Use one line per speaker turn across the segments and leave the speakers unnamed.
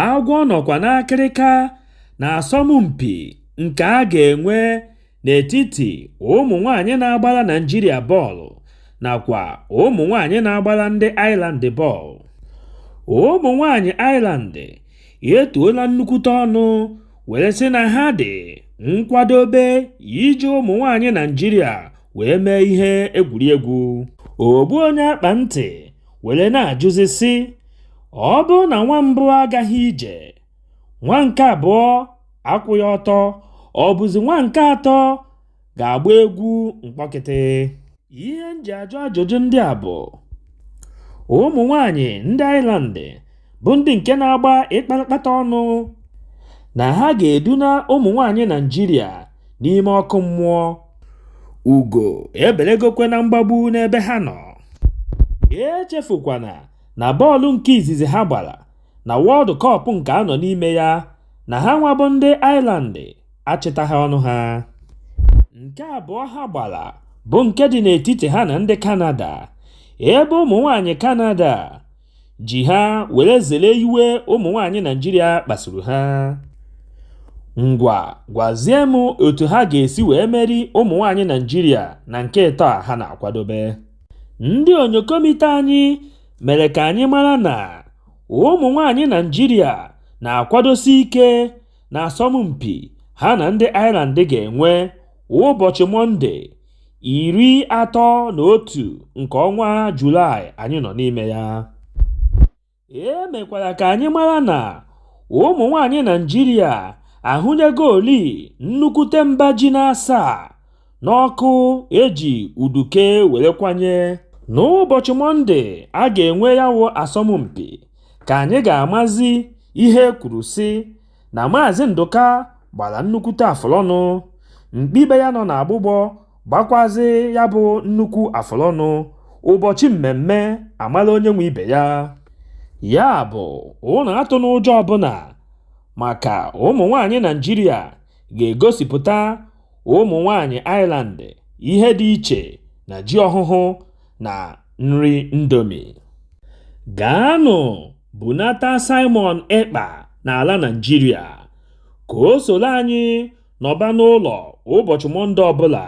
Agwọ nọkwa n'akịrịka n'asọmpi nke a ga-enwe n'etiti ụmụ nwaanyị na-agbara Naịjirịa bọọlụ nakwa ụmụ nwaanyị na-agbara ndị Ireland bọọlụ. Ụmụ nwaanyị Ireland etuola nnukwute ọnụ were sị na ha dị nkwadobe iji ụmụ nwaanyị Naịjirịa wee mee ihe egwuregwu. Ogbu onye akpa ntị were na-ajụzi sị ọ bụrụ na nwa mbụ agaghị ije nwa nke abụọ akwụghị ọtọ ọ bụzi nwa nke atọ ga-agba egwu mkpọkịtị ihe m ji ajụ ajụjụ ndị a bụ ụmụ nwanyị ndị Ireland bụ ndị nke na-agba ịkpatakpata ọnụ na ha ga-eduna ụmụ nwanyị Naịjirịa n'ime ọkụ mmụọ ugo ebelegokwe na mgbagbu n'ebe ha nọ echefukwana na bọọlụ nke izizi ha gbara na World Cup nke a nọ n'ime ya na ha nwa bụ ndị Ireland achịtaghị ọnụ ha nke abụọ ha gbara bụ nke dị n'etiti ha na ndị Kanada ebe ụmụ nwaanyị Kanada ji ha were zere iwe ụmụ nwaanyị Naịjirịa kpasuru ha. Ngwa gwazie m otu ha ga-esi wee meri ụmụ nwaanyị Naịjirịa na nke ịtọ a ha na-akwadobe. Ndị onyokomite anyị mere ka anyị mara na ụmụ nwaanyị Naịjirịa na-akwadosi ike n'asọmpi ha na ndị Ireland ga-enwe ụbọchị Mọnde iri atọ na otu nke ọnwa Julaị anyị nọ n'ime ya. E mekwara ka anyị mara na ụmụ nwaanyị Naịjirịa ahụnyegoli nnukwute mba ji n'asaa n'ọkụ e ji uduke were kwanye. N'ụbọchị Mọnde a ga-enwe ya bụ asọmpi ka anyị ga-amazi ihe e kwuru sị na Maazị Ndụka gbara nnukwute afụlọnụ, mkpi be ya nọ n'agbụgbọ gbakwazị ya bụ nnukwu afụlọnụ ụbọchị mmemme a mara onye nwe ibe ya. Ya bụ, ụnụ atụna ụjọ ọbụla maka ụmụ nwaanyị Naịjirịa ga-egosipụta ụmụ nwaanyị Ireland ihe dị iche na ji ọhụhụ na nri Indomie. Gaanụ bunata Simon Ekpa n'ala Naịjirịa ka o soro anyị nọba n'ụlọ ụbọchị Mọnde ọbụla,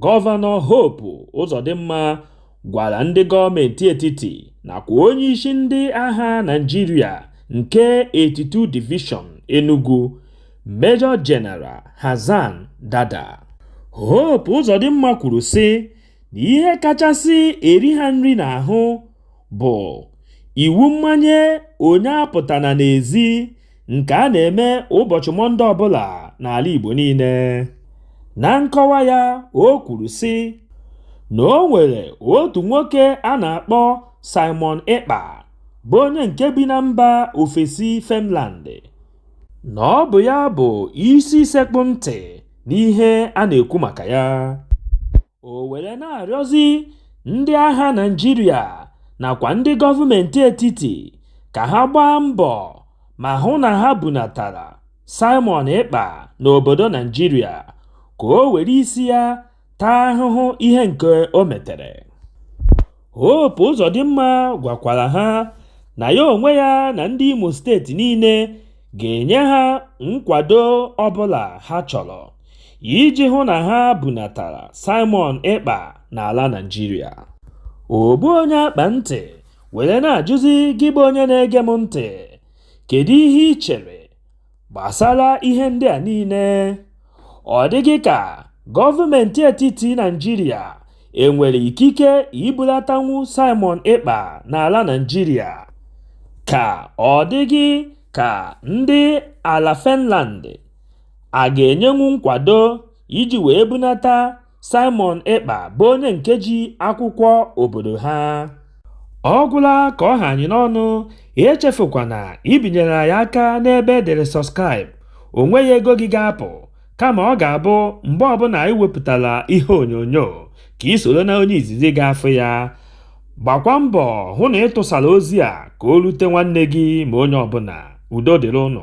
Gọvanọ Hope Uzodimma gwara ndị gọọmentị etiti nakwa onyeisi ndị agha Naịjirịa nke 82 Division Enugu, Major General Hassan Dada. Hope Uzodimma kwuru sị na ihe kachasị eri ha nri n'ahụ bụ iwu mmanye onye apụtana n'ezi nke a na-eme ụbọchị Mọnde ọbụla n'ala Igbo niile. Na nkọwa ya, o kwuru sị na o nwere otu nwoke a na-akpọ Simon Ekpa bụ onye nke bi na mba ofesi Finland na ọ bụ ya bụ isi sekpụ ntị n'ihe a na-ekwu maka ya. o were na-arịọzi ndị agha Naịjirịa nakwa ndị gọọmenti etiti ka ha gbaa mbọ ma hụ na ha bunatara Simon Ekpa n'obodo Naịjirịa ka o were isi ya taa ahụhụ ihe nke o metere. Hope Uzodimma gwakwara ha na ya onwe ya na ndị Imo steeti niile ga-enye ha nkwado ọbụla ha chọrọ iji hụ na ha bunatara Simon Ekpa n'ala Naịjirịa. Ogbu onye akpa ntị were na-ajụzi gị bụ onye na-ege m ntị, kedu ihe i chere Gbasara ihe ndị a niile, ọ dị gị ka gọọmenti etiti Naịjirịa e nwere ikike ibulatanwu Simon Ekpa n'ala Naịjirịa, ka ọ dị gị ka ndị ala Finland a ga-enyenwu nkwado iji wee bunata Simon Ekpa bụ onye nke ji akwụkwọ obodo ha ọ gwụla ka ọ ha anyị n'ọnụ echefukwana ibinyere anyị aka n'ebe e dere subscribe o nweghị ego gị ga-apụ kama ọ ga-abụ mgbe ọbụla anyị wepụtara ihe onyonyo ka i soro na onye izizi ga-afụ ya gbakwa mbọ hụ na ị tụsara ozi a ka o rute nwanne gị ma onye ọbụla udo dịrị unu